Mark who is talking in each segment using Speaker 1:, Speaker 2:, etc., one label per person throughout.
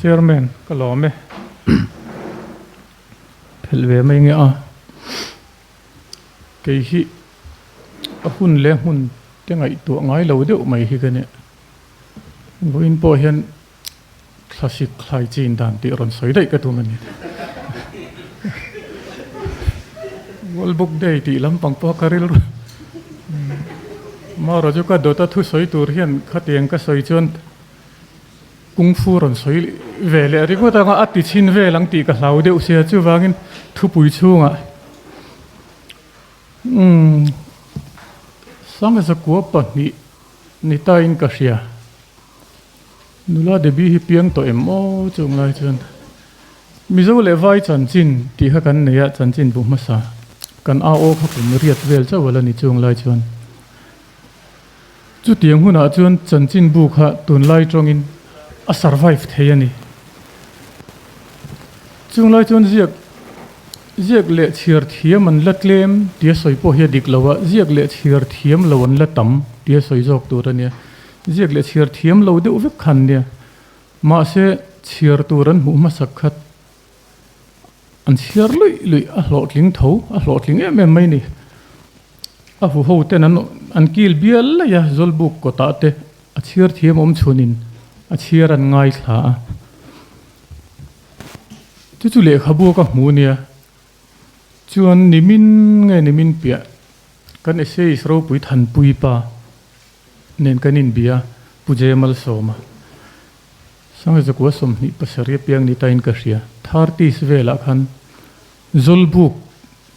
Speaker 1: Chairman, ka lawm e. Phelh ve mai nge a. Kei hi a hun leh hmun te ngaihtuah ngai lo deuh mai hi ka nih. Vawiin pawh hian thla sikthlai chin dan tih rawn sawi daih ka tum a ni. World Book Day tih lampang pawh ka rilru a. Mara chu ka dawt a, thusawi tur hian khatiang ka sawi chuan. Kung fu rawn sawi ve leh ri ngawt anga a ti chhin vel ang tih ka hlau deuh si a, chuvangin thupui chhungah umm sangzakua pahnih ni tain ka hria. Nula Debbie hi piang tawh em aw chung lai chuan Mizo leh vai chanchin tih kha kan nei a, chanchin bu hmasa kan a aw kha kum riat vel chauh a la ni chung lai chuan. Chutiang hunah chuan chanchinbu kha tunlai tawngin a survive thei a ni. Chung lai chuan ziak ziak leh chhiar thiam an la tlem tia sawi pawh hi a dik lo a, ziak leh chhiar thiam lo an la tam tia sawi zawk tur a nia. Ziak leh chhiar thiam lo deuh vek khan nia. Mahse chhiar tur an hmuh hmasak khat. an chhiar luih luih a hlawhtling tho a hlawhtling em em mai a ni a huho ten an an kil bial laih a zawlbuk kawtah te a chhiar thiam awm chhunin a chhiar an ngaithla a chu chu lehkhabu ka hmu a nia chuan nimin nge nimin piah kan essayist ropui thanpuipa nen kan inbia pu jemalsawma. Sangzakua sawmhnih pasarih apiang ni tain ka hria. Thar tis velah khan Zawlbuk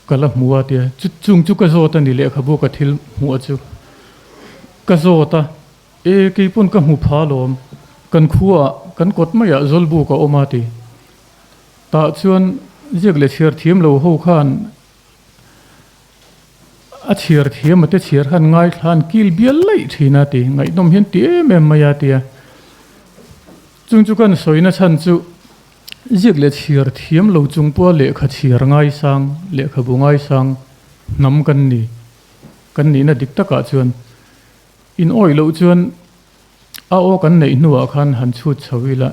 Speaker 1: ka la hmu a tia. Chuchung chu ka zawt a ni lehkhabu ka thil hmuhah chu ka zawt a. E, keipawn ka hmu pha lawm. Kan khuaah kan kawt maiah Zawlbuk a awm a ti. Tah chuan ziak leh chhiar thiam lo ho khan. A chhiar thiam a te chhiar han ngaithlan kil bial laih thin a ti. Ngaihnawm hian ti em em mai a ti a. Chung chu kan sawi na chhan chu ziak leh chhiar thiam lo chung pawha lehkha chhiar ngai sang, lehkha bu ngai sang hnam kan ni. Kan nihna dik takah chuan in awih loh chuan a aw kan neih hnuah khan han chhut chho ila.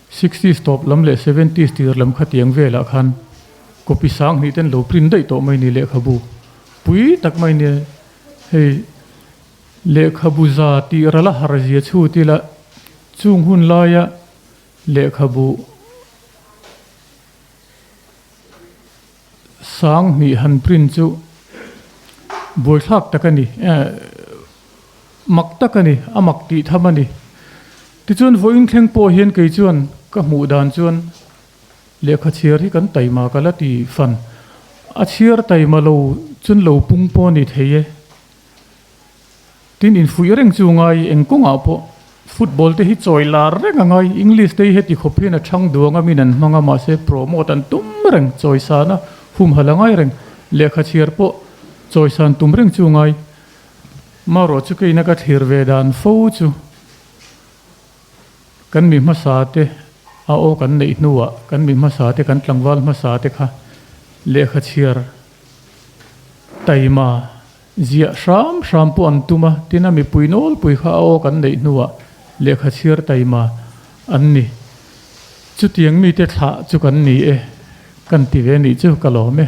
Speaker 1: Sixty s tawp lam leh seventy s tir lam khatiang velah khan copy sang hnih ten lo print daih tawh mai ni lehkhabu pui tak mai nia hei lehkhabu za tih rala har zia chhut ila chung hun laia lehkhabu Sanghnih han print chu buaithlak tak a ni, mak tak a ni, a mak tih tham a ni. Tichuan vawiin thleng pawh hian kei chuan ka hmuh dan chuan lehkha chhiar hi kan taima ka la ti fan. A chhiar taima lo chuan lo pung pawh a ni thei e. Tin, infuih a reng chu ngai eng kawngah pawh football te hi chawi lar reng a ngai. English te hi heti khawp hian a chhang duang a min an hmang a, mahse promote an tum reng, chawi san a humhalh a ngai reng. Lehkha chhiar pawh chawi san tum reng chu ngai. Marawh chu keina ka thlir ve dan fo chu kan mi hmasa te a awk an neih hnuah kan mi hmasa te, kan tlangval hmasa te kha lehkha chhiar taima, Ziah hram hram pawh an tum a, tin a mipui nawlpui kha a awk an neih hnuah lehkha chhiar taima an ni. Chutiang mite thlah chu kan ni e, kan ti ve nih chu ka lawm e.